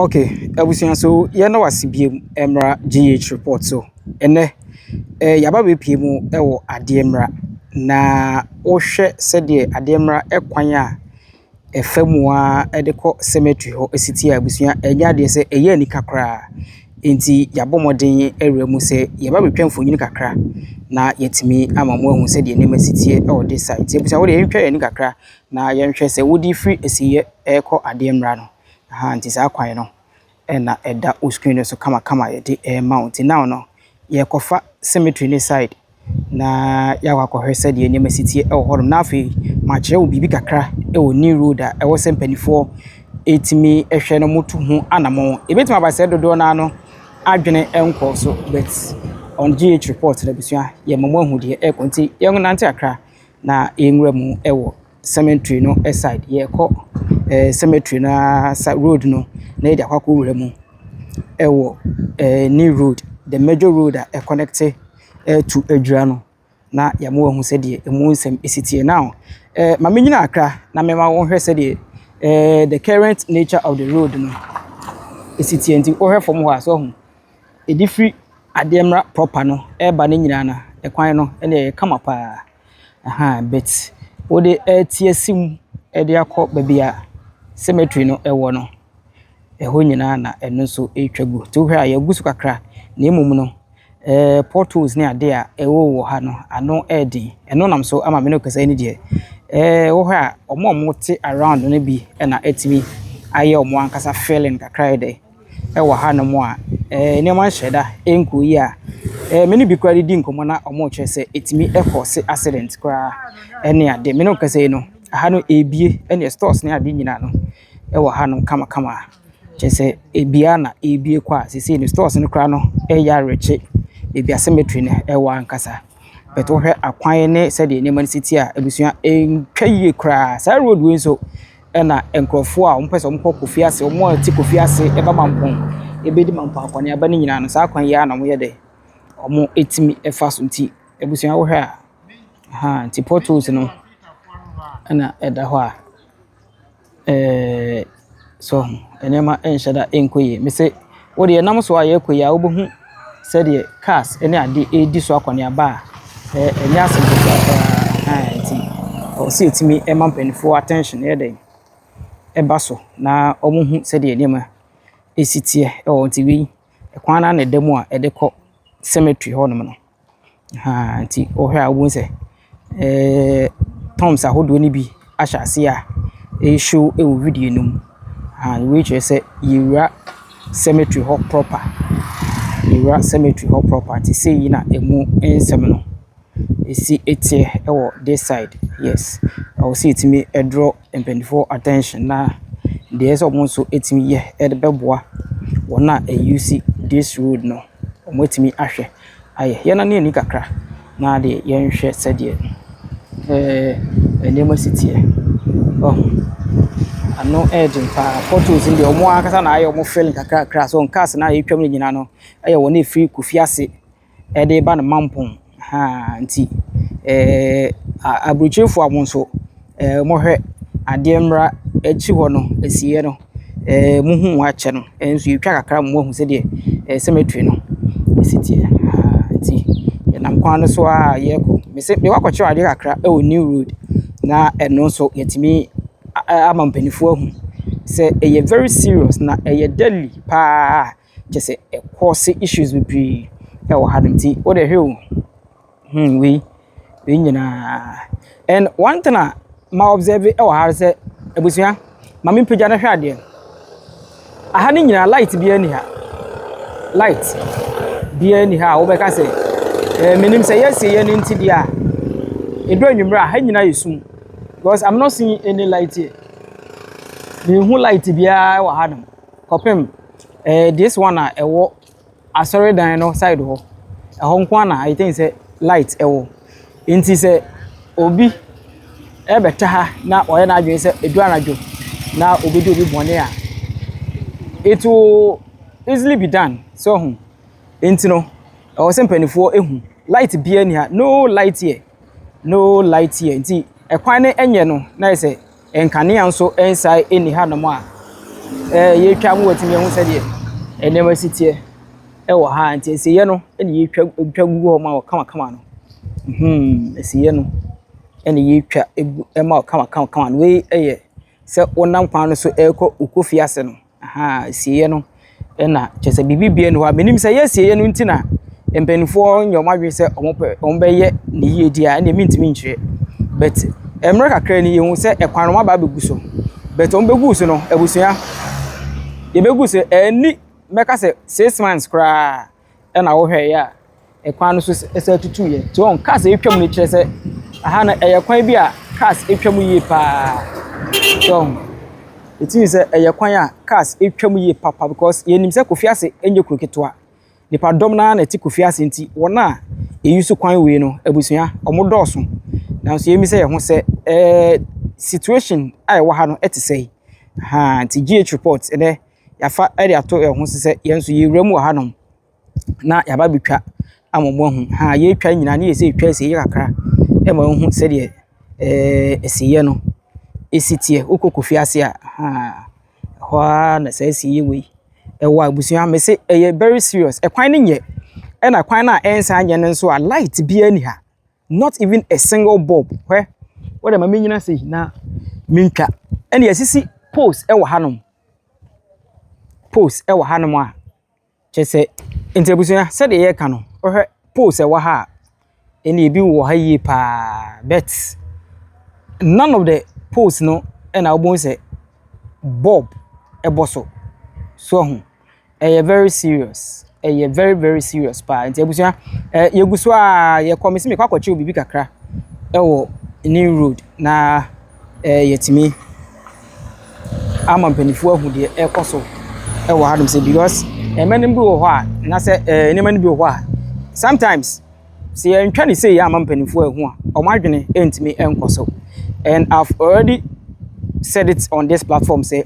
Okay, abusua so yɛda wo ase bio mmra GH report so. Ɛnɛ eh, yɛaba bɛpie mu wɔ adeɛ mmra na wohwɛ sɛdeɛ adeɛ mmra kwan a ɛfa mu a de kɔ cemetery hɔ si tie abusua ɛnyɛ adeɛ sɛ ɛyɛ anika koraa. Nti yɛabɔ mmɔden awura mu sɛ yɛba bɛtwa mfonyin kakra na yɛatumi ama mo ahu sɛdeɛ nneɛma si tie wɔ de sa. Nti abusua wode yɛntwa yɛn kakra na yɛnhwɛ sɛ wode firi asiyɛ ɛrekɔ adeɛ mmra no. Ahaa nti saa kwan no na ɛda wo screen no so kamakama a yɛde rema wo. Nti now no yɛrekɔfa cemetery no side na yɛakɔ akɔhwɛ sɛdeɛ nneɛma si teɛ wɔ hɔnom. Na afei makyerɛ wo biribi kakra wɔ new road a ɛwɔ sɛ mpanimfoɔ ɛtumi hwɛ na wɔtu ho anamɔn. Ɛbɛtumi aba sɛ dodoɔ no ara no adwene nkɔɔ so but on GH report no abusua yɛma mo ahu deɛ ɛrekɔ nti yɛnnante kakra na yɛnwura mu wɔ cemetery no side, yɛrekɔ ɛɛ cemetery no ara sa road no na yɛde akɔ akɔwura mu wɔ ɛɛ ne road, the major road a ɛkɔnɛkete to Adwira no, na yɛama wɔahu sɛdeɛ ɛmu nsɛm si teɛ. Now, ɛɛ ma menyini akra na mɛma wɔnhwɛ sɛdeɛ ɛɛ the current nature of the road no si teɛ nti wohwɛ fam hɔ a, so ahu, ɛde firi Adeɛmma proper no reba no nyinaa no, ɛkwan no ɛnneɛ ɛyɛ kama pa ara. Ahaa but wode ɛreteaseam de akɔ baabi a cemetery no wɔ no, ɛhɔ nyinaa na ɛno nso retwa gu. Nti wohwɛ a yɛagu so kakra na mmom no, ɛɛ potholes ne adeɛ a ɛwowɔ ha no, ano yɛ den. Ɛno nam so ama me ne wo kasa yi ne deɛ, ɛɛ wohwɛ a wɔn a wɔte around no bi na atumi ayɛ wɔn ankasa filling kakra ayɛ dɛ. wɔ hanom a nneɛma nhyɛ da nkɔ yie a, me ne bi koraa redi nkɔmmɔ na wɔrekyerɛ sɛ ɛtumi kɔɔse accident koraa ne ade. Me ne wo rekasa yi no, ha no ɛrebue ɛnneɛ stores ne ade nyinaa no wɔ hanom kamakama. Kyerɛ sɛ ɛbue ara na ɛrebue kɔ a seesei no stores no koraa no reyɛ awerɛkye baabi a cemetery no wɔ ankasa. But wohwɛ akwan ne sɛdeɛ nneɛma no si teɛ a, abusua, ɛntwa yie koraa. Saa road wei nso, na nkurɔfoɔ a wɔpɛ sɛ wɔkɔ Kofi Ase, wɔn a wɔte Kofi Ase ba Mampong bɛdi Mampong akɔneaba no nyinaa no, saa kwan yi ara na wɔyɛ dɛ, wɔtumi fa so nti, abusua wohwɛ a, ahaa, nti port holes no na ɛda hɔ a, ɛɛɛ, so nneɛma nhyɛ da nkɔ yie. Mese. Wo deɛ nam so a yɛkɔ yi a wobɛhu sɛdeɛ cars ne adeɛ ɛredi so akɔneaba a ɛnyɛ asɛm ketewa koraa nti ɛwɔ sɛ yɛtumi ma mpanimfoɔ attention yɛ dɛn, ɛba so na wɔhu sɛdeɛ nneɛma ɛsi teɛ wɔ hɔ. Nti wei kwan no ara na ɛda mu a ɛde kɔ cemetery hɔnom no. Ahaa nti wohwɛ a wobɛhu sɛ terms ahodoɔ no bi ahyɛ aseɛ a ɛre show wɔ video no mu. Ahaa wei kyerɛ sɛ yɛrewura cemetery hɔ proper, yɛrewura cemetery hɔ proper nti sei na ɛmu nsɛm no si teɛ wɔ this side, yes. Ɛwɔ sɛ yɛtumi draw mpaninfoɔ attention na deɛ ɛsɛ sɛ wɔn nso tumi yɛ de bɛboa wɔn a ɛuse this road no. Wɔatumi ahwɛ ayɛ. Yɛnnane ani kakra na yɛnhwɛ sɛdeɛ nneɛma si teɛ. Ano yɛ den pa ara. Pɔtols no deɛ, wɔn ara ankasa na ayɛ wɔn filling kakrakra. Kaase no a ɛretwam no nyinaa no yɛ wɔn a ɛfiri Kofiase de reba no Mampong. Ahaa nti aburokyirifoɔ a mo nso mohwɛ adeɛ mmra akyi hɔ no asieɛ no mohu mu akyɛ no nso yɛtwa kakra ma moahu sɛdeɛ cemetery no si teɛ. Ahaa nti yɛnam kwan no so ara yɛkɔ. Mese mewɔ akɔkyerɛ adeɛ kakra wɔ new road na ɛno nso yɛtumi a ama mpaninfoɔ ahu sɛ ɛyɛ very serious na ɛyɛ deadly paa. Kyerɛ sɛ ɛ cause issues bebree wɔ hanom. Nti wo deɛ hwɛ o, hmm wei, wei nyinaa. And one thing a ma observe wɔ ha sɛ, abusua, ma me mpagya no hwɛ adeɛ. Aha no nyinaa light biara ni ha. Light biara ni ha a wobɛka sɛ, eh, menim sɛ yɛasie yɛ no nti deɛ a, ɛdu anwummerɛ a, ha nyinaa yɛ sum. Because I'm not seeing any light here. Menhu light biara wɔ hanom. Kɔpem eh this one a ɛwɔ asɔre dan no side hɔ ɛhɔ nko ara na I think sɛ light ɛwɔ nti sɛ obi ɛbɛta ha na ɔyɛ n'adwene sɛ edu anadwo na obi di obi bɔne a it will easily be done so ho nti no ɛwɔ sɛ mpanimfoɔ ehu light biara ni ha no light here no light here nti ɛkwan no ɛnyɛ no na yɛ sɛ Nkanea nso nsae nni hanom a yɛretwa mu atumi ahu sɛdeɛ nneɛma si teɛ wɔ ha nti nsiyɛ no na yɛtwa twa gu hɔ ma wɔ kamakama no hmm nsiyɛ no na yɛtwa gu ma wɔ kamakama no wei yɛ sɛ wonam kwan no so rekɔ wokɔ fie ase no. Ahaa asieɛ no na kyerɛ sɛ biribi bia ni hɔ a menim sɛ ɛyɛ asieɛ no nti na mpanimfoɔ nyɛ wɔn adwene sɛ wɔn bɛyɛ ne yie deɛ a ɛnna mentumi nkyerɛ but mmerɛ kakra ni yɛhu sɛ ɛkwan no aba abɛgu so but wɔn bɛgu so no abusua yɛbɛgu so ɛni mɛka sɛ six months koraa na wohwɛeɛ a, kwan no so san tutuiɛ. Nti wɔn cars atwam no kyerɛ sɛ aha no ɛyɛ kwan bi a cars atwam yie paa. So it means sɛ ɛyɛ kwan a cars atwam yie papa because yɛnim sɛ Kofi Ase nyɛ kuro ketewa. Nnipadɔm no ara na ɛte Kofi Ase nti wɔn a wɔuse kwan wei no, abusua, wɔdɔɔso. Nanso yɛmmisa yɛn ho sɛ ɛɛ situation a ɛwɔ ha no te sɛn? Ahaa nti GH report ɛnnɛ. yɛafa de ato yɛn ho so sɛ yɛn nso yɛwura mu wɔ hanom na yɛaba abɛtwa ama moahu. Ha a yɛretwa nyinaa ne yɛ sɛ yɛtwa asieeɛ kakra ma wohu sɛdeɛ ɛɛ asieeɛ no si teɛ. Wokɔ Kofi ase a, ha ɛhɔ ara na saa asieeɛ wei ɛwɔ a abusua mese ɛyɛ very serious. Ɛkwan no nyɛ ɛna kwan no a ɛnsan nyɛ no nso a light biara nni ha. not even a single bulb hwɛ wo dɛ ma me nyina sei na me ntwa ɛna yɛsisi poles ɛwɔ hanom poles ɛwɔ hanom a kyɛ sɛ nti abusua sɛdeɛ yɛka no wohwɛ poles ɛwɔ ha a ɛna ebi wɔ ha yie paa bet none of the poles no ɛna wobɛhu sɛ bulb ɛbɔ so so ahu ɛyɛ very serious, ɛyɛ very very serious paa. Nti abusua, ɛ yɛgu so a yɛkɔ mesi mekɔ akɔkyɛw biribi kakra ɛwɔ new road na ɛ yɛtumi ama mpanimfoɔ ahu deɛ ɛrekɔ so ɛwɔ hanom sɛ because ɛmɛnum bi wɔ hɔ a anaasɛ ɛ nneɛma no bi wɔ hɔ a sometimes. Sɛ yɛantwa no sei amma mpanimfoɔ anhu a, wɔn adwene ntumi nkɔ so. And I've already said it on this platform sɛ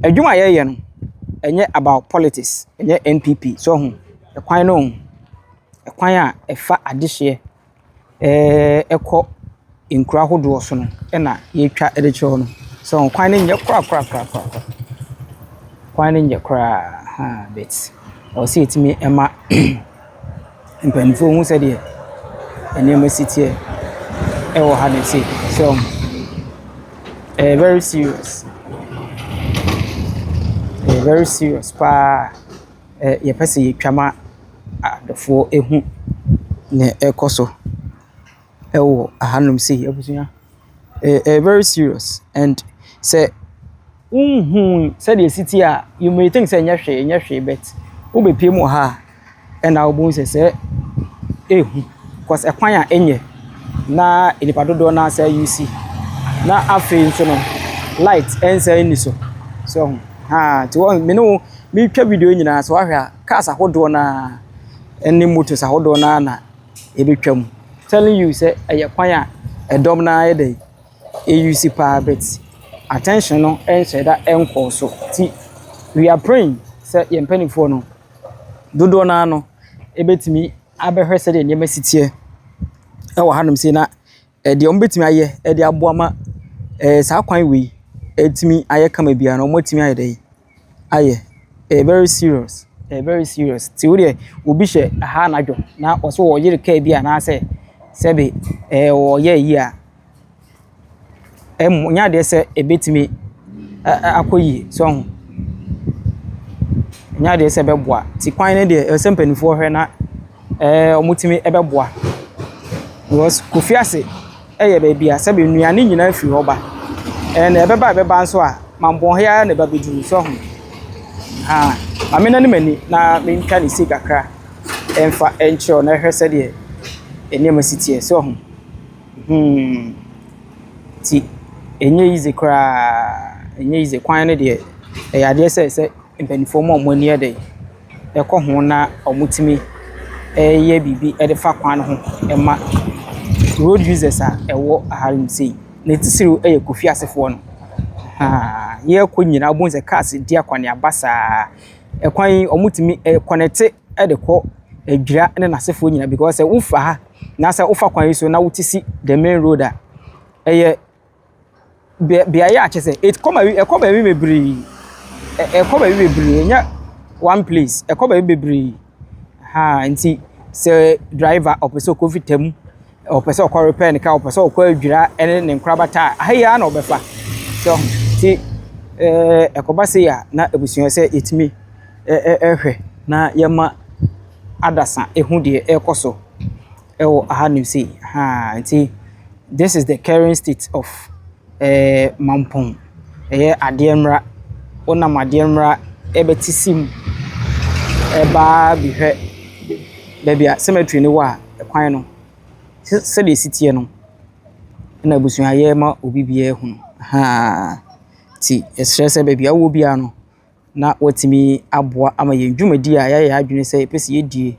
adwuma a yɛyɛ no ɛnyɛ about politics ɛnyɛ npp so ho ɛkwan no ho ɛkwan a ɛfa adehyeɛ ɛɛ ɛkɔ Nkuro ahodoɔ so no na yɛtwa de kyerɛ wo no. So ho? Kwan no nyɛ korakorakorakoraa. Kwan no nyɛ koraa haa but ɛwɔ sɛ yɛtumi ma mpaninfoɔ hu sɛdeɛ nneɛma si teɛ ɛwɔ ha no sei. So ho? Ɛyɛ very serious. Ɛyɛ very serious paa. Ɛ yɛpɛ sɛ yɛtwa ma adɔfoɔ hu deɛ ɛrekɔ so. wɔ hanom sei abusua. Ɛyɛ ɛyɛ very serious and sɛ wonhu sɛdeɛ ɛsi teɛ a, you may think sɛ ɛnyɛ hwee ɛnyɛ hwee but wobɛpiem wɔ ha a, ɛnna wobɛhu sɛ sɛɛ ɛyɛ hu cause ɛkwan a ɛnyɛ na nnipa dodoɔ no ara sɛɛ use na afei nso no light ɛnsan nni so. So ɛho haa nti wɔn me ne wo meretwa video nyinaa sɛ wahwɛ a cars ahodoɔ no ara ne motos ahodoɔ no ara na. ebetwa mu. Telling you sɛ ɛyɛ kwan a ɛdɔm no ara yɛ dɛn, ɛuse paa but attention no nhyɛ da nkɔɔ so. Nti we are praying sɛ yɛn mpanimfoɔ no, dodoɔ no ara no, ɛbɛtumi abɛhwɛ sɛdeɛ nneɛma si teɛ wɔ hanom sei na Deɛ wɔbɛtumi ayɛ de aboa ma ɛɛ saa kwan wei atumi ayɛ kama biara no, wɔatumi ayɛ dɛn ayɛ? Ɛyɛ very serious, ɛyɛ very serious. Nti wo deɛ obi hyɛ ha anadwo na ɔse ɔyere kaa bi anaasɛ sɛbe ɛɛ ɔyɛ yie a, ɛnyɛ adeɛ sɛ ɛbɛtumi akɔ yie, so ahu. Ɛnyɛ adeɛ sɛ ɛbɛboa. Nti kwan no deɛ ɛsɛ sɛ mpanimfoɔ hwɛ na. Ɛɛ, wɔtumi bɛboa. Because Kofiase yɛ baabi a sɛbe nnuane nyinaa firi hɔ ba. And ɛbɛba a ɛbɛba nso a, mammɔn he ara na ɛba bɛduru, so ahu? Ahaa. Ma me nane m'ani na mentwa ne se kakra mfa nkyerɛ wo na hwɛ sɛdeɛ nneɛma si teɛ, so ahu? Hmm. Nti, ɛnyɛ easy koraa, ɛnyɛ easy. Kwan no deɛ, ɛyɛ adeɛ sɛ ɛsɛ mpanimfoɔ ma wɔn ani yɛ den. kɔ ho na wɔtumi yɛ biribi de fa kwan no ho ma road users a ɛwɔ ha nom sei. Ne titiriw yɛ Kofi asefoɔ no. Ahaa, yɛrekɔ nyinaa wobɛhu sɛ cars redi akɔneaba saa. Kwan yi wɔtumi ɛ kɔnɛte de kɔ Adwira ne n'asefoɔ nyinaa because sɛ wofa ha na sɛ wofa kwan yi so na wote si the main road a, ɛyɛ . Bea beaeɛ a kyerɛ sɛ ɛkɔ baabi ɛkɔ baabi bebree. Ɛkɔ baabi bebree ɛnyɛ one place. Ɛkɔ baabi bebree. Ahaa nti sɛ driver ɔpɛ sɛ ɔkɔ Vita mu, ɔpɛ sɛ ɔkɔ repɛ ne car, ɔpɛ sɛ ɔkɔ Adwira ne ne nkorabata a, ha yi ara na ɔbɛfa. So nti ɛɛ ɛkɔba sei a na abusua sɛ yɛtumi ɛ ɛ ɛhwɛ na yɛma adasa ɛhu deɛ ɛrekɔ so. Ɛwɔ aha nom sei ahaa nti this is the current state of ɛɛɛ Mampong ɛyɛ adeɛ mmra wonam adeɛ mmra ɛbɛte sim ɛbaa bihwɛ baabi a cemetery no wɔ a kwan no sɛ sɛdeɛ ɛsi teɛ no ɛna abusua yɛ ma obi biara hunu ahaa nti yɛsrɛ sɛ baabi a wowɔ biara no. na watumi aboa ama yɛn dwumadi a yɛayɛ yɛn adwene sɛ yɛpɛ sɛ yɛdi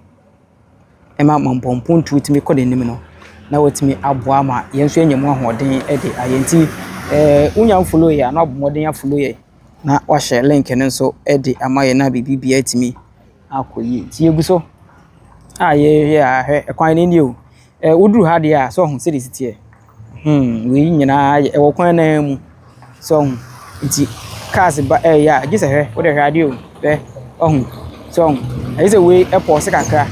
ma mampɔ mpontuo tumi kɔ n'anim no, na watumi aboa ama yɛn nso yɛanya mu ahoɔden de ayɛ. Nti eh, wonya mfolo yɛ a, na wabɔ mmɔden afolo yɛ na wahyɛ link no nso de ama yɛn na biribiara atumi akɔ yie. Nti yɛgu so a yɛyɛ a hwɛ, ɛkwan no nie o. Eh, woduru ha deɛ a, sɛ ɔho sɛdeɛ ɛsi teɛ. Hmm, wei nyinaa yɛ ɛwɔ kwan naa mu. So ɔho. Nti cars ba ɛɛyɛ a gyesɛ hwɛ wode hwɛ adeɛ o hwɛ ɔho so ɔho. Ayɛ sɛ wei ɛpɔɔse kakra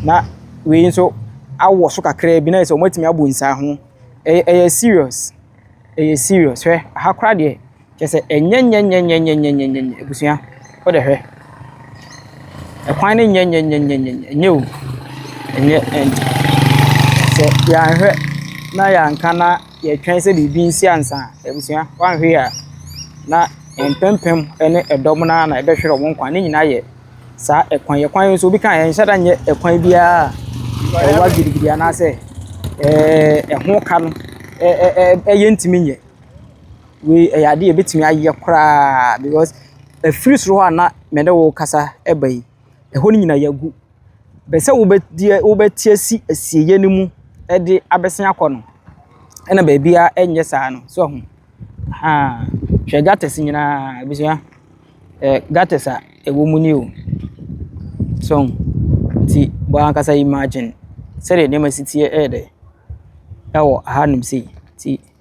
na wei nso awɔ so kakraa bi na ayɛ sɛ wɔatumi abɔ nsiaho. Ɛyɛ ɛyɛ serious, ɛyɛ serious. Hwɛ aha koraa deɛ. Kyerɛ sɛ, ɛnyɛ nyɛnyɛnyɛnyɛnyɛnyɛnyɛnyɛ, abusua. Wo de hwɛ. Ɛkwan no nyɛ nyɛnyɛnyɛnyɛnyɛ, ɛnyɛ o. Ɛnyɛ, ɛn, sɛ yɛanhwɛ na yɛanka na yɛtwɛn sɛ biribi nsi ansa a, abusua, woanhwɛ yie a, na mpempem ne ɛdɔm no ara na ɛbɛhwere wɔn nkwa. Ne nyinaa yɛ saa ɛkwan yi. Ɛkwan yi nso, obi ka a, ɛnhyɛ da nyɛ ɛkwan biara a ɛwa gidigidi anaasɛ ɛɛ ɛho ka no, ɛɛ ɛɛ ɛyɛ ntumi nyɛ. Wei ɛyɛ adeɛ a ɛbɛtumi ayɛ koraa because ɛfiri soro hɔ a na me ne wo rekasa ba yi, ɛhɔ no nyinaa yɛagu. Bɛ sɛ wobɛdeɛ wobɛte asi asieeɛ no mu de abɛsen akɔ no, ɛna baabiara ɛnyɛ saa no. So ahu? Ahaa. Hwɛ gutters nyinaa abusua. Ɛɛ gutters a ɛwɔ mu ni o. So ahu? Nti bɔ ara ankasa imagine sɛdeɛ nneɛma si teɛ ɛyɛ dɛ ɛwɔ hanom sei. Nti.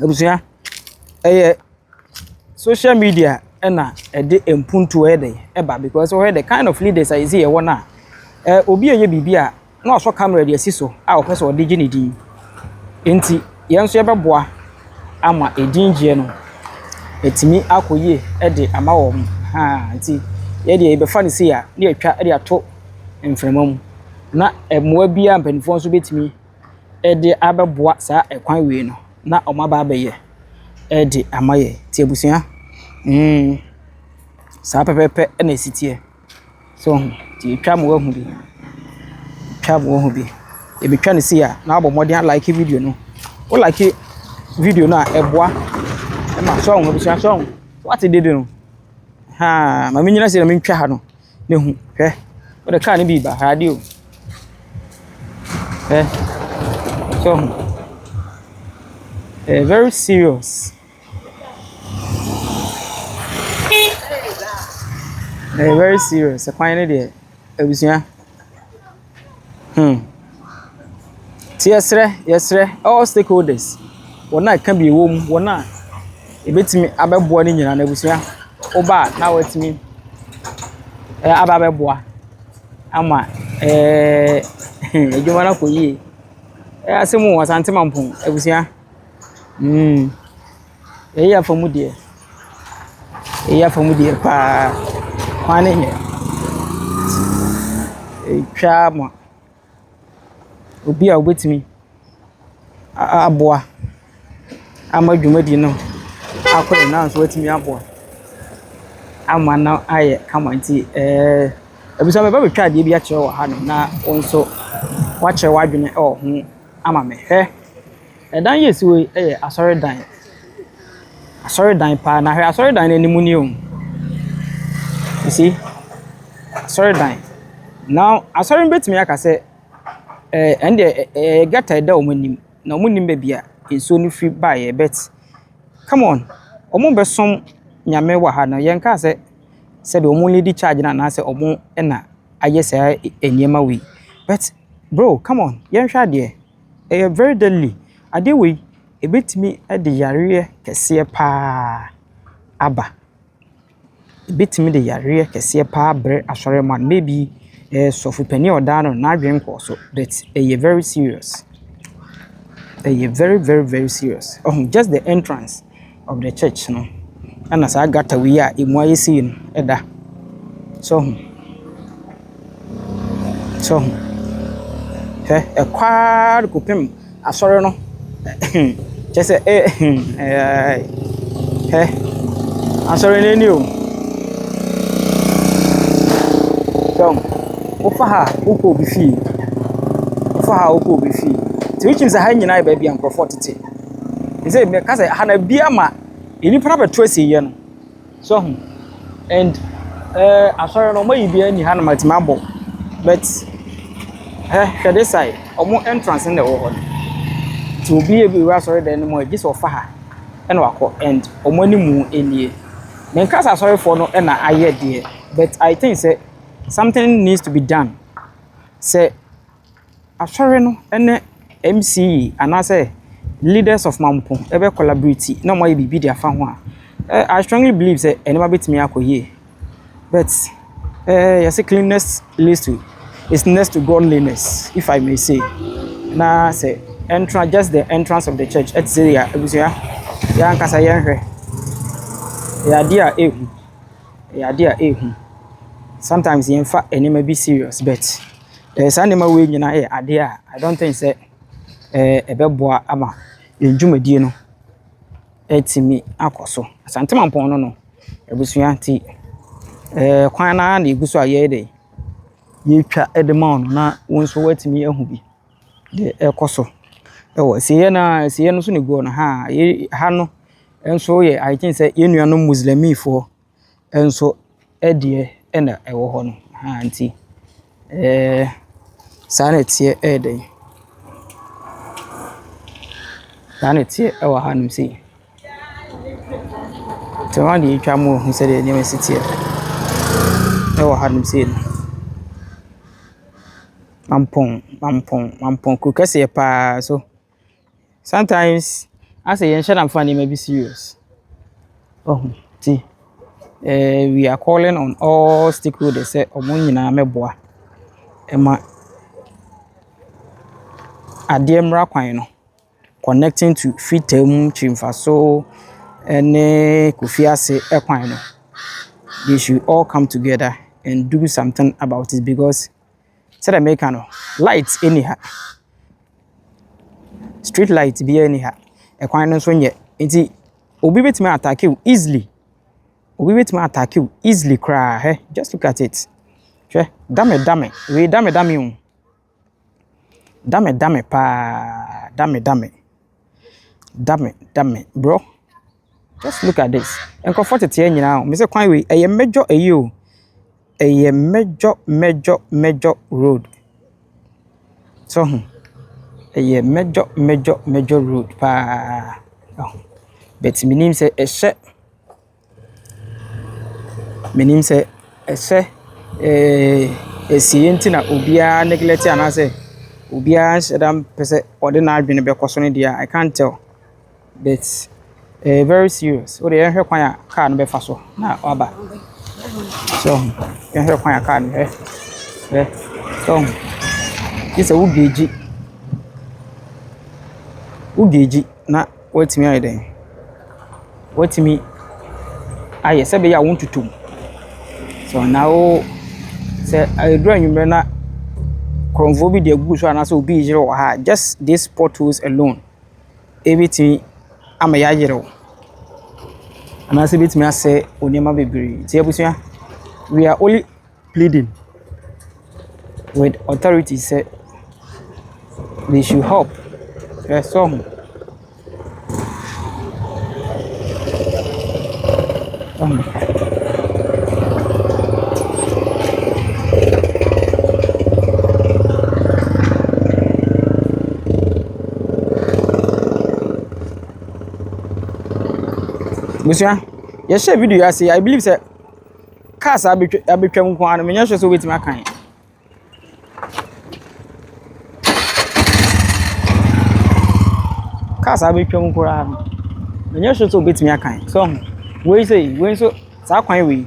Abusua, ɛyɛ social media na ɛde mpuntuo yɛ dɛ ɛba because wohwɛ the kind of leaders a yɛsi yɛwɔ no a, eh, obi yɛ biribi a na wasɔ camera de asi so a ɔpɛ sɛ ɔde gye ne din. Nti yɛn nso yɛbɛboa ama edin gyeɛ no atumi akɔ yie de ama wɔn. Haa nti yɛ deɛ yɛbɛfa no sei a na yɛatwa de ato mframa mu na mmoa bi a mpanimfoɔ nso bɛtumi de abɛboa saa kwan wei no na wɔaba abɛyɛ de ama yɛn. Nti abusua, mm, saa pɛpɛɛpɛ na ɛsi teɛ. So ho, nti ɛtwa ma woahu bi. Ɛtwa ma woahu bi. Ɛbɛtwa no sei a, na woabɔ mmɔden alike video no. Wo like video no a, ɛboa ma, so ho abusua, so ho. Woate dede no? Haa, ma mennyina sei na mentwa ha no. no hu. Hwɛ, wode kaa no bi reba, hwɛ adeɛ o. Hwɛ, sɛ ɔho. Ɛyɛ very serious. Ɛyɛ very serious, ɛkwan no deɛ, abusua. Hmm. Nti yɛsrɛ, yɛsrɛ all stakeholders, wɔn a ɛka bi wɔ mu, wɔn a ebetumi abɛboa no nyinaa, n'abusua, woba a na wɔatumi aba abɛboa ama ɛɛɛ eh, adwuma no akɔ yie. Ɛyɛ asɛm o, Asante Mampong abusua. Hmm. Wei yɛ afamu deɛ. Wei yɛ afamu deɛ paa. Kwan no nyɛ. Ɛretwa ama obi a ɔbɛtumi a a aboa ama dwumadie no akɔ yie na nso watumi aboa ama no ayɛ kama nti ɛɛ abusua meba abɛtwa adeɛ bi akyerɛ wɔ hanom na wo nso woakyerɛ w'adwene wɔ ho ama me. Hwɛ! Dan yi a ɛsi hɔ yi yɛ asɔredan. Asɔredan paa. Na hwɛ asɔredan no anim ni o. You see? Asɔredan. Now, asɔre no bɛtumi aka sɛ ɛɛ ɛnneɛ ɛ ɛ ɛyɛ gutter a ɛda wɔn anim, na wɔnnim baabi a nsuo no firi baeɛ but, come on, wɔrebɛsom Nyame wɔ ha no, yɛnkaa sɛ sɛdeɛ wɔrelidi charge no anaasɛ wɔn na ayɛ saa nneɛma wei. But, bro, come on, yɛnhwɛ adeɛ. Ɛyɛ very deadly. Adeɛ wei, ɛbɛtumi de yareɛ kɛseɛ pa ara aba. Ɛbɛtumi de yareɛ kɛseɛ pa ara abrɛ asɔre man. Maybe sɔfo panin a ɔda ano no, n'adwene nkɔɔ so, but ɛyɛ very serious. Ɛyɛ very very very serious. Ɔho, just the entrance. of the church no ɛna saa gutter wei a ɛmu ayɛ sei no ɛda so ɔho so ɔho hwɛ ɛkɔ ara de kɔpem asɔre no kyɛ sɛ ɛ ɛɛ hwɛ asɔre no ani o so ɔho wofa ha wokɔ obi fie wofa ha wokɔ obi fie nti wokyim sɛ ha nyinaa yɛ baabi a nkurɔfoɔ tete. Te sɛ mɛka sɛ ha na bi ama nnipa no abɛto asieɛ no. So ho and eh, asɔre no wɔayi biara ni ha na matumi abɔ but eh, hwɛ this side wɔn entrance no na ɛwɔ hɔ no. Nti obi yɛ bi wura asɔre dan no mu a gye sɛ ɔfa ha ɛna wakɔ and wɔn anim nie. Menka sɛ asɔrefoɔ no na ayɛ deɛ but I think sɛ something needs to be done sɛ Asɔre no ne MCE anaasɛ leaders of Mampong bɛ collaborate na wɔayɛ biribi de afa ho a, I strongly believe sɛ nneɛma bɛtumi akɔ yie. But eh, wɔse cleanliness leads to, is next to godliness if I may say. Na sɛ ɛntra just the entrance of the church ɛte sɛ yɛn abusua, yɛn ankasa yɛnhwɛ. Ɛyɛ adeɛ a ɛyɛ hu, ɛyɛ adeɛ a ɛyɛ hu. Sometimes yɛmfa nneɛma bi serious but. Eh, saa nneɛma wei nyinaa yɛ adeɛ a I don't think sɛ eh, ɛbɛboa ama yɛn dwumadie no atumi akɔ so. Asantemampɔn no no, abusua nti eh, kwan no ara na ɛgu so a yɛyɛ dɛ yɛtwa de ma wo no na wo nso woatumi ahu bi deɛ ɛkɔ so ɛwɔ asieɛ no a asieɛ no so ne guo no ha yɛ ha no nso yɛ I think sɛ yɛn nuanom muslimifoɔ nso deɛ na ɛwɔ hɔ no. Ahaa nti ɛɛɛ saa na ɛteɛ ɛyɛ den. Saa na ɛteɛ ɛwɔ hanom sei. Nti wɔn deɛ atwa mu ahu sɛdeɛ nneɛma si teɛ ɛwɔ hanom sei no. Mampɔn, Mampɔn, Mampɔn kuro kɛseɛ paa so. sometimes asɛ yɛn hyɛ da nfa nneɛma bi serious ɔho nti ɛɛ we are calling on all stakeholders sɛ wɔn nyinaa bɛboa ɛma adeɛ mmra kwan no connecting to Freetown mu Kyirifasoo ɛne Kofiase ɛkwan no they should all come together and do something about it because. Sɛdeɛ meka no, light nni ha. Street light biara nni ha. Kwan no nso nyɛ. Nti obi bɛtumi a attack wo easily. Obi bɛtumi a attack wo easily koraa. Hwɛ, just look at it. Hwɛ, dame dame. Wei dame dame o. Dame dame paa. Dame dame. Dame dame. Bro. Just look at this, nkorɔfoɔ tete ha nyinaa o, mesɛ kwan wei ɛyɛ major ayi o, ɛyɛ major major major road. So ho, ɛyɛ major major major road paa, but menim sɛ ɛhyɛ, menim sɛ ɛhyɛ ɛɛɛ ɛsiiɛ nti na obiara neglect anaasɛ obiara nhyɛda mpɛsɛ ɔde n'adwene bɛkɔ so no deɛ a, I can't tell. But ɛyɛ very serious. Wo deɛ yɛnhwɛ kwan a car no bɛfa so na waba. So ɔho, yɛnhwɛ kwan a car no hwɛ. Hwɛ. So ɔho. Gye sɛ wo geegye. Wo geegye na woatumi ayɛ dɛn. Woatumi ayɛ sɛ ɛbɛyɛ a wontutu mu. So na wo sɛ ɛduru anwummerɛ na korɔmfoɔ bi de agu so anaasɛ obi reyere wɔ ha a, just these potholes alone. ɛbɛtumi ama yɛayerɛw, anaasɛ ɛbɛtumi asɛe nneɛma bebree. Nti abusua, we are only pleading with authorities sɛ they should help. Hwɛ so ɔho. Abusua, yɛhyɛɛ video yi ase a, I believe sɛ cars a abɛtwa abɛtwam nko ara no, menyɛ sure sɛ wobɛtumi akan. Cars a abɛtwam nko ara no, menyɛ sure sɛ wobɛtumi akan. So, wei sei, wei nso, saa kwan wei.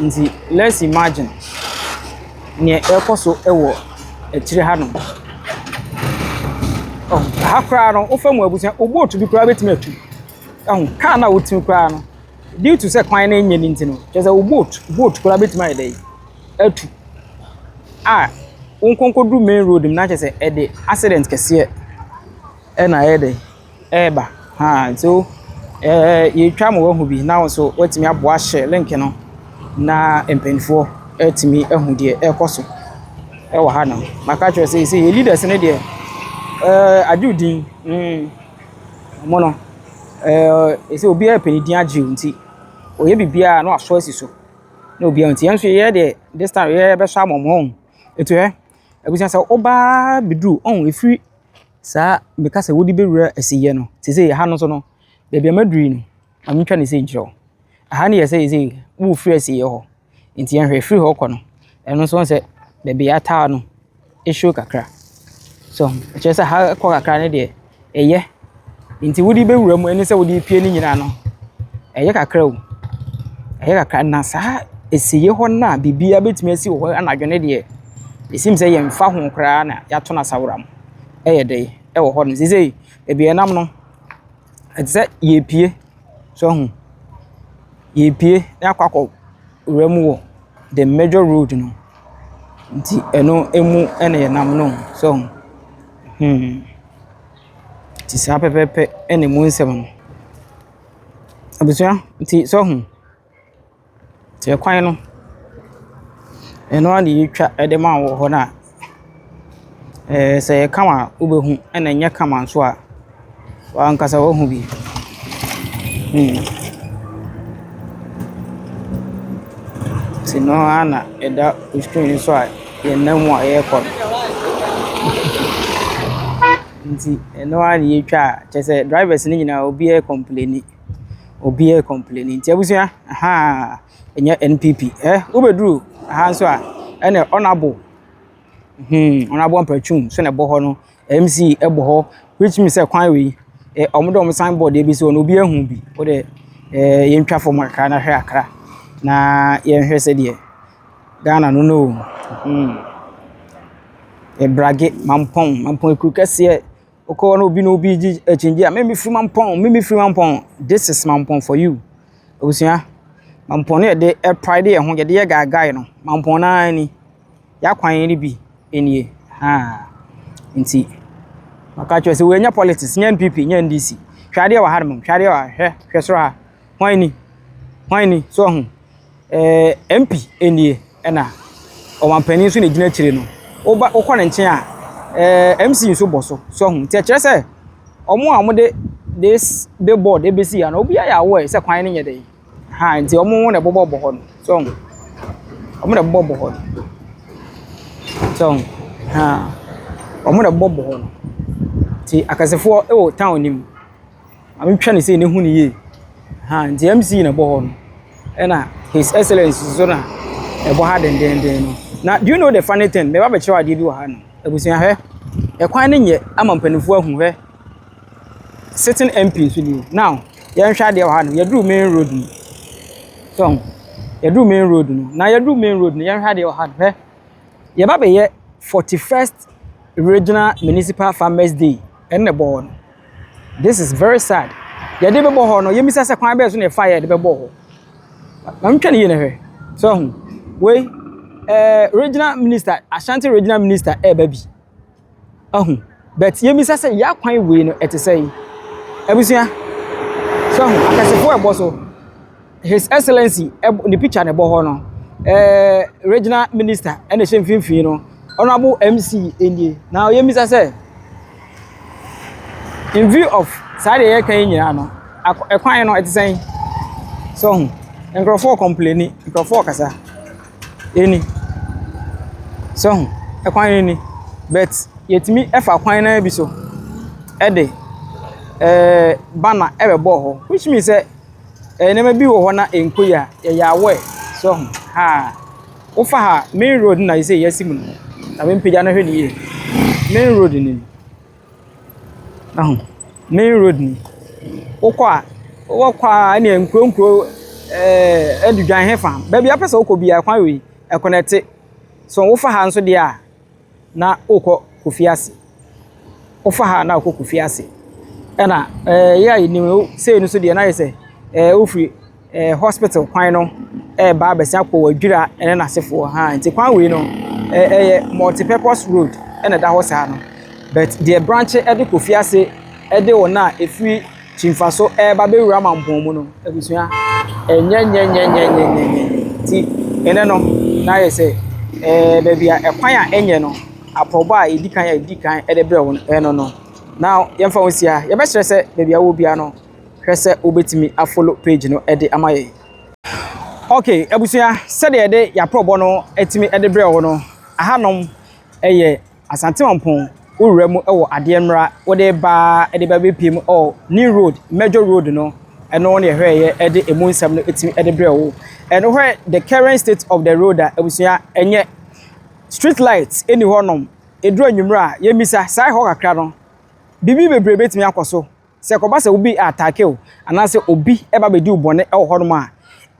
Nti let's imagine neɛ ɛrekɔ so wɔ akyire hanom. Ɛho, ha koraa no, wofa mu abusua, wo boat bi koraa bɛtumi atu. Ɛho, kaa no a wotumi koraa no, due to sɛ kwan no nyɛ ne nti no, kyerɛ sɛ wo boat, boat koraa bɛtumi ayɛ dɛn, atu. A, wo nkɔnkɔduru main road mu na kyerɛ sɛ ɛde accident kɛseɛ ɛna ayɛ dɛn. reba. Ahaa, nti wo yɛretwa ma woahu bi na wo nso woatumi aboa ahyɛ link no na mpanimfoɔ atumi ahu deɛ ɛrekɔ so wɔ hanom. Maka akyerɛ wo sɛ seesei yɛn leaders no deɛ, ɛɛ agye wo din. Mm, wɔn no, ɛɛ sɛ obiara pɛ ne din agye wo nti, wɔyɛ biribiara na wɔasɔ asi so na obiara nti. Yɛn nso yɛyɛ deɛ this time yɛbɛsɔ ama wɔn. Nti hwɛ, abusua sɛ woba bɛduru, ɔhu ɛfiri saa meka sɛ wode bɛwura asiyɛ no te sɛ ha no nso no baabi a maduru yi no ma mentwa ne sei nkyerɛ wo aha no yɛ sɛ yɛsɛ wofiri asiyɛ hɔ nti yɛnhwɛ firi hɔ kɔ no ɛno nso sɛ baabi a ataa no ɛhyɛ kakra so ɛkyerɛ sɛ ha kɔ kakra no deɛ ɛyɛ nti wode bɛwura mu ɛne sɛ wode pie no nyinaa no ɛyɛ kakra o ɛyɛ kakra na saa asiyɛ hɔ no a biribiara bɛtumi asi wɔ hɔ anadwo no deɛ ɛsim sɛ yɛmfa ho koraa na yɛato no asawora mu yɛ dɛ wɔ hɔ no. Seesei baabi a yɛnam no, ɛte sɛ yɛrepue. So woahu? Yɛrepue na yɛakɔ akɔwura mu wɔ the major road no mu. Nti ɛno mu na yɛnam no. So woahu? Hmm. Nti saa pɛpɛɛpɛ na emu nsɛm no. Abusua, nti so woahu? Tse kwan no, eno ara na yetwa de ma wo wɔ hɔ no a, eh sɛ ɛyɛ kama a wobɛhu na ɛnyɛ kama nso a, w'ankasa woahu bi. Hmm. Tse no ara na ɛda wo screen no so a yɛnam mu a yɛrekɔ no. Nti ɛno ara na yetwa a, kyerɛ sɛ drivers no nyinaa obiara complaini. Obiara complaini nti abusua ahaa ɛnyɛ NPP. Hɛ wobɛduru ha nso a ɛna honourable hmm honourable Ampatuum nso na ɛbɔ hɔ no. MC ɛbɔ hɔ which means sɛ kwan wei wɔn de wɔn signboard bi asi hɔ no obiara hu bi. Wode ɛɛ yɛn twa fam kakra na hwɛ kakra na yɛn hwɛ sɛdeɛ Ghana no na ɔɔm hmm. Ɛbrage, Mampong, Mampong akuro kɛseɛ. Wokɔ hɔ na obi ne obi regye akyinnye a, meme firi mampɔn, meme firi mampɔn. This is mampɔn for you. Abusua, mampɔn no yɛde ɛpride yɛn ho, yɛde yɛ gaagae no. Mampɔn naa ni. Yɛakwan no bi nie. Haa. Nti, maka kyerɛ sɛ wɔanya politics, nyɛ NPP, nyɛ NDC. Hwɛ adeɛ wɔ ha nom, hwɛ adeɛ wɔ ha, hwɛ, hwɛ soro ha. hwan ni? Hwan ni? So ɔho? Ɛɛ MP nie ɛna ɔmanpanin nso na egyina akyire no. Woba wokɔ ne nkyɛn a ɛɛ MC nso bɔ so. So ɔho? Nti ɛkyerɛ sɛ wɔn a wɔde this billboard ebesi ha no obiara yɛ aware sɛ kwan no nyɛ dɛ. Ha nti wɔn na ɛbobɔ bɔ hɔ no. So ɔho? Wɔn na ɛbobɔ bɔ hɔ no. So ɔho? Ha wɔn na ɛbobɔ bɔ hɔ no. Nti akɛsefoɔ ɛwɔ town no mu. Mehwɛ no sei na ɛhu no yie. Ahaa nti MC na ɛbɔ hɔ no, ɛna His Excellence nso na ɛbɔ ha dendenden no. Na do you know the funny thing? Mɛba bɛkyerɛw adeɛ bi wɔ ha no. Abusua hwɛ, ɛkwan no nyɛ ama mpanimfoɔ ahu hwɛ. Sitting MP nso ni. Now, yɛnhwɛ adeɛ wɔ ha no, yɛduru main road no. So, yɛduru main road no. Na yɛduru main road no, yɛnhwɛ adeɛ wɔ ha no hwɛ. Yɛba bɛyɛ 41st Regional Municipal Farmers Day ɛne na ɛbɔ hɔ no. This is very sad. Yɛde bɛbɔ hɔ no, yɛmmisa sɛ kwan bɛyɛ so na yɛfa yɛde bɛbɔ hɔ. Maame twɛ ne yie na hwɛ. So ahu. Wei, eh, regional minister, Ashanti regional minister ɛreba bi. Ahu. But yɛmmisa sɛ yɛ akwan wei no ɛte sɛ yi. Abusua. So ahu. Akɛsefoɔ ɛbɔ so. His Excellency ɛb ne picture na ɛbɔ hɔ no, eh, regional minister ɛna ɛhyɛ mfimfini no, honorable MC nie. Na ɔyɛ mmisa sɛ, in view of saa deɛ yɛka yi nyinaa no, ɛkwan no ɛte sɛn? So ho, nkurɔfoɔ kɔmpleni, nkurɔfoɔ kasa, ɛni. So ho, ɛkwan no ni, but yɛtumi ɛfa kwan no bi so ɛde, eh, banner ɛbɛbɔ hɔ, which means sɛ, Nneɛma bi wɔ hɔ na ɛnkɔ yie a, yɛyɛ aware, so ho, haa. Wofa ha, main road no na seesei yɛasi mu no. Na mempagya no hwɛ no yie. Main road no ni. Wahu? Main road ni. Wokɔ a, wokɔ a ɛnneɛ nkuro nkuro, ɛɛ Adudwan he fa, baabiara wopɛ sɛ wokɔ biara, kwan wei, ɛkonɛte. So wofa ha nso deɛ a. na wokɔ Kofi ase. Wofa ha a na wokɔ Kofi ase. Ɛna ɛɛ yɛ a yɛnim no, sei no nso deɛ na ayɛ sɛ ɛɛ wofiri ɛɛ hospital kwan no ɛreba abɛsen akɔ Wadwira ne n'asefoɔ ha. Nti kwan wei no ɛɛ ɛyɛ multi-purpose road ɛna ɛda hɔ saa no. But deɛ branche ɛde Kofi ase ɛde wɔn a ɛfiri Kyimfaso reba bɛwura mampɔn mu no, abusua, ɛnyɛnyɛnyɛnyɛnyɛnyɛnyɛ nti, ene no, na ayɛ sɛ, ɛɛ, baabi a ɛkwan a ɛnyɛ no, aprɔbɔ a yɛdi kan a yɛdi kan de brɛ wɔn no no. Now, yɛmfa ho nsi ha, yɛbɛkyerɛ sɛ baabi a wowɔ biara no, hwɛ sɛ wobɛtumi afollow page no de ama yɛn. Ok, abusua, sɛdeɛ yɛde yɛn aprɔbɔ no atumi de brɛ wo no, ahanom yɛ. Asante Mampong wo wura mu wɔ adeɛ mmra wode ba de ba bɛpie mu ɔ New Road Major Road no ɛno ne ɛhwɛɛyɛ de ɛmu nsɛm no ɛtumi de brɛ wo ɛno hwɛ the current state of the road a abusua ɛnyɛ street light ɛni hɔ nom ɛduru anwummerɛ a yɛmmisa saa ɛhɔ kakra no biribi bebree bɛtumi akɔ so Sɛ ɛkɔba sɛ obi attacke wo anaasɛ obi ɛba bɛdi wo bɔne ɛwɔ hɔnom a,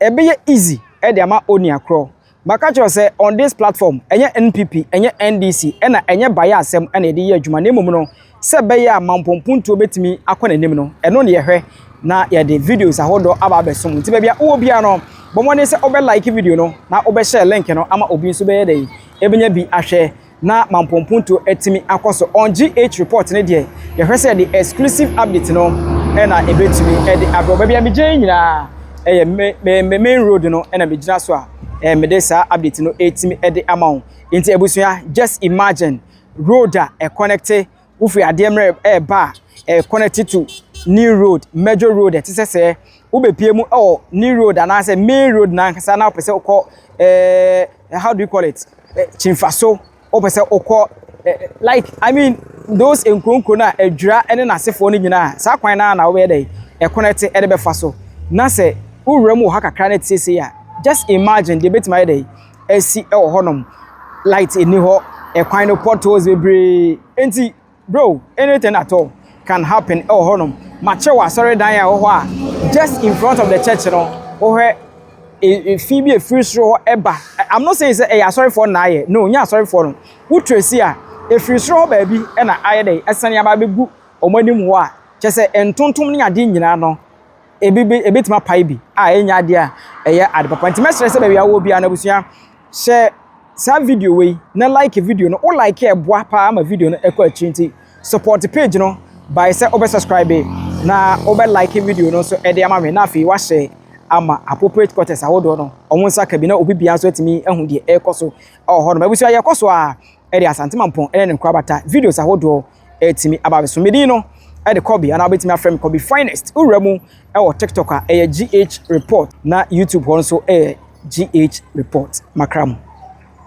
ɛbɛyɛ easy de ama onua korɔ. Maka kyerɛ wo sɛ on this platform, ɛnyɛ NPP, ɛnyɛ NDC, ɛna ɛnyɛ bayɛ asɛm ɛna yɛde yɛ adwuma na mmom no sɛ ɛbɛyɛ a mampɔmpuntuo bɛtumi akɔ n'anim no, ɛno na yɛhwɛ na yɛde videos ahodoɔ aba abɛsom. Nti baabi a wowɔ biara no, bɔ mmɔden sɛ wobɛ like video no na wobɛ share link no ama obi nso bɛyɛ dɛn? Ɛbɛnya bi ahwɛ. na mampɔmpuntuo atumi akɔ so on GH report no deɛ yɛhwɛ sɛ the exclusive update no ɛna ɛbɛtumi ɛde abrɛ baabi a megyina yi nyinaa ɛyɛ me me me main road no ɛna megyina so a ɛɛ mede saa update no ɛtumi ɛde ama wo nti abusua just imagine road a ɛconnecte wofi adeɛ mmerɛ ɛreba a, ɛyɛ connected to new road, major road ɛte sɛ sɛ wobɛpie mu ɛwɔ new road anaasɛ main road nankasa na wopɛ sɛ wokɔ ɛɛ eh, how do you call it eh, kyimfaso wopɛ sɛ wokɔ eh, like i mean those nkuronkuro no a adwira ne n'asefoɔ no nyinaa saa kwan no a na wobɛyɛ dɛ ɛkɔnɛte ɛde bɛfa so na sɛ wowura mu wɔ ha kakra no ɛte sɛ sei a just imagine deɛ ɛbɛtumi ayɛ dɛ asi wɔ hɔnom. Light nni hɔ. Kwan no, potholes bebree. Enti, bro, anything at all can happen wɔ hɔnom. Makyerɛ wo asɔredan a ɛwɔ hɔ a, just in front of the church no, wohwɛ e, fi bi a ɛfiri soro hɔ ɛba. I'm not saying sɛ ɛyɛ asɔrefoɔ na ayɛ. No, nyɛ asɔrefoɔ no. Wo trace a, ɛfiri soro hɔ baabi na ayɛ dɛ, ɛsane aba abɛgu wɔn anim hɔ a, kyerɛ sɛ ntontom ne adeɛ nyinaa no, ebi bi ebetumi apae bi a ɛnyɛ ade a ɛyɛ ade papa. Nti mɛsrɛ sɛ baabi a wowɔ biara no abusua, hyɛ saa video wei na like video no. Wo like a ɛboa paa ma video no ɛkɔ akyiri nti support page no by sɛ wobɛ subscribe na wobɛ like video no nso ɛde ama me na afei wahyɛ ama appropriate quarters ahodoɔ no wɔn nsa ka bi na obi bia nso atumi ahu deɛ ɛrekɔ so ɛwɔ hɔ nom. Abusua yɛkɔ so a ɛde Asante Mampɔn ɛne ne nkorabata videos ahodoɔ ɛtumi aba me so. Me din no de Kobe anaa wobɛtumi afrɛ me Kobe Finest. Wowura mu wɔ TikTok a ɛyɛ GH Report na YouTube hɔ nso ɛyɛ GH Report. Makra mu.